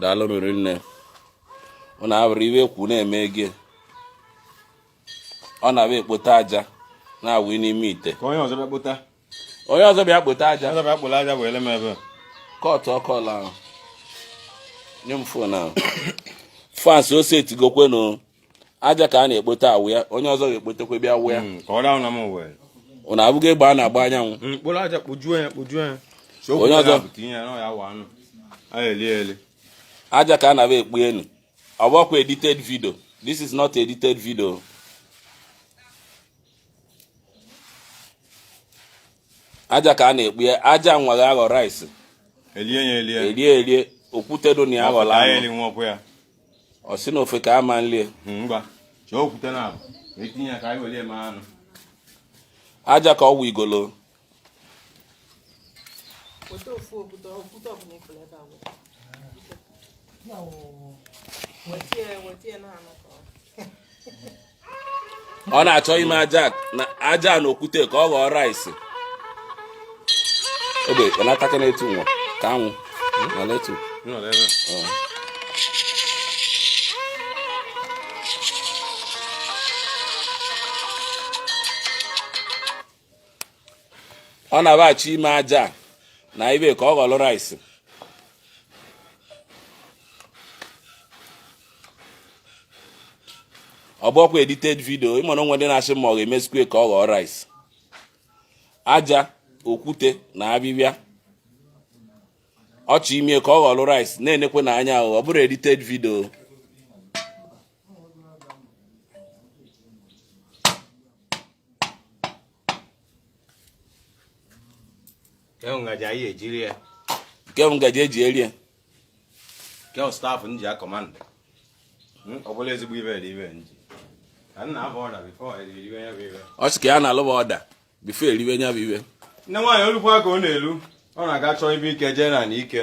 daalụ riri nne ọ na-awere iwe kwu na-eme ego ọ na-abịa ekpote aja na-awụ n'ime ite onye ọzọ bịa kpota onye ọzọ bịa kpote aja ọzọ bịa kporo aja were m ebe a. kọtụọ call ahụ nye m fon ahụ fans ose etigokwenu aja ka a na-ekpote awụ ya onye ọzọ ga-ekpotekwa bịa awụ ya hmm, ọ na-abụghị egbe a na-agba anyanwụ hmm, onye ọzọ aja ka a na-abịa ekponye ọ bụkwa edited video this is not edited video aja ka a na-ekpo ya aja nwa ga-aghọ rice elie elie okwute dị na ya aghọla anụ ọ sị na ofe ka ama nlie ngwa chọọ okwute naabọ tinye ya ka anyị were eme anụ aja ka ọ wụnyegolo weta ofu okwute okwute ọbụla ị fụrụ ebe a weta weta ya weta ya na anụ ka ọ ọ na-achọ ime aja na aja na okwute ka ọ ghọọ rice ogbe na-ataka na-etu nwa ka anwụ na letu ọ na-abịa achọ ime aja na ibe ka ọ ghọrọ rice ọ bụrọkwa edited video ị ma na o nwe ndị na-asị ma ọ ga-emesikwa ka ọ ghọọ rice aja okwute na abịbịa ọ chọ ime ka ọ ghọrọ rice na-enekwenụ anya ọ bụrọ edited video nke bụ ngaji anyị ji eri ya nke bụ ngaji eji eri ya nke bụ staff m ji akọmandụ hmm, ọ bụla ezigbo ibe eri ibe nji ka m nalụba order before eriwe ya bụ ibe ọ sị ka ya nalụba order before eriwe ya bụ ibe nne nwaanyị o lukwa ka ọ na-elu ọ na-aga chọọ ibe ike jee na ike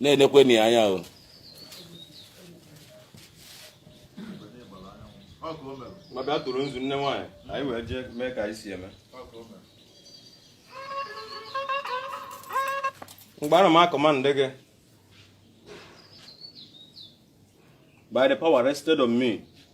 na-enekwenụ ya anya o m abịa tụrụ nzu nne nwaanyị anyị wee jee mee ka anyị si eme mgbe ana m akọmandụ gị by the power vested on me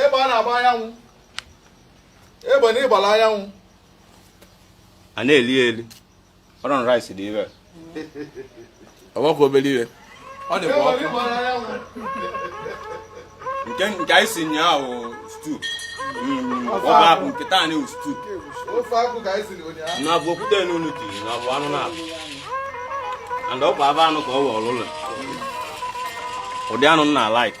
egbe na-agba anyanwụ egbe na ịgbala anyanwụ a na-eli eli ọrụ rice dị ire ọgbakọ obere ire ọ dị ọkụ nke nke anyị si nyaahụ stew mm, ofe akwụ nke taa na stew na-abụ okwute n'unu dị na abụ anụ na-abụ and ọkwa abụ anụ ka ọ wụ ọlụlụ ụdị anụ m na-alike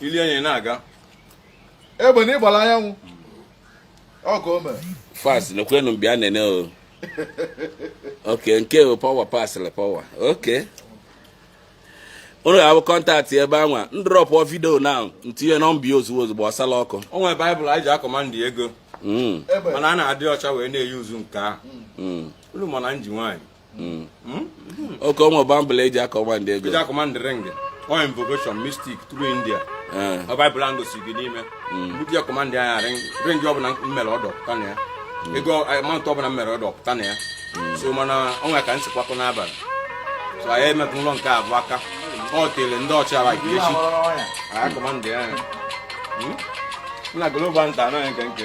ili enyi na-aga egbe na ịgbara anyanwụ ọkụ o mere fans nekwenu bịa nene o okay nke o power pasịrị power okay unu ga-abụ contact ebe anwa ndrọpụ video na ntinye number ya ozugbo ozugbo gbasala ọkụ o nwere bible anyị ji acommand ego hmm. mana a na-adị ọcha wee na-euse nke ahụ hmm. unu mana nji nwaanyị hmm. Hmm? okay o nwere bible eji acommand ego eji acommand ring ọ invocation mystic through india eh. ọ bible ahụ gosiri gị n'ime hmm. mgbe ji acommand ya ring ọbụla m mere order pụta na ya ego amount ọbụla m mere order pụta na ya so mana o nwere ka m si kwakọ n'abalị so anyị emetụ ụlọ nke abụọ aka ọ tere ndị ọcha like echi anyị acommand ya na global nta anaghị nke nke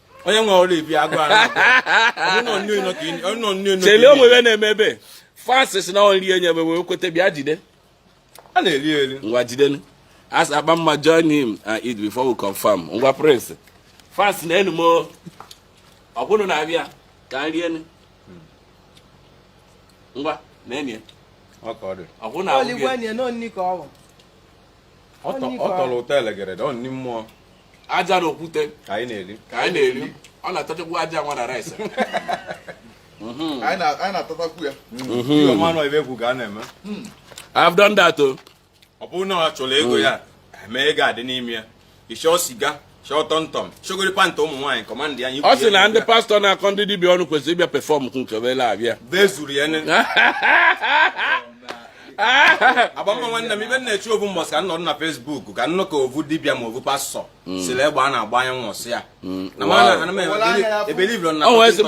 onye nwe ọrụ ibi agụ ahụ chele onwe ya na-eme ebe fans na nri enye ebe wee kweta bịa jide a na-eri eri ngwa jidenu as agbamma join him and eat before we confirm ngwa prince fans na enu m ọkwa unu na-abịa ka nri enu ngwa na enye ọkwa unu na-abịa ọ tọrọ ụtọ elegere ọ nni mmụọ aja na okwute ka anyị na-eri ka anyị na-eri ọ na-atachakwu aja nwa na rice mhm. anyị na-atatakwu ya mhm. ọmanụ ibe egwu ka a na-eme hmm. I've done that o oh. ọ bụrụ na ọ chọrọ ego ya hmm. eme ego adị n'ime ya ịchọọ siga chọọ tọmtọm chọgodi pant ụmụ nwaanyị command ya ọ sị na ndị pastor na-akọ ndị dibịa ọnụ kwesịrị ịbịa perform nke obele abịa bezuru ya agbamma nwanne m ibe na-eche ọ vụ mbọsị ka nọdụ na Facebook ka nnụ ka ọ vụ dibịa ma ọ vụ pastor mm. siri egbe na-agba anyanwụ sị ya mm. na mana ana m ebelieve na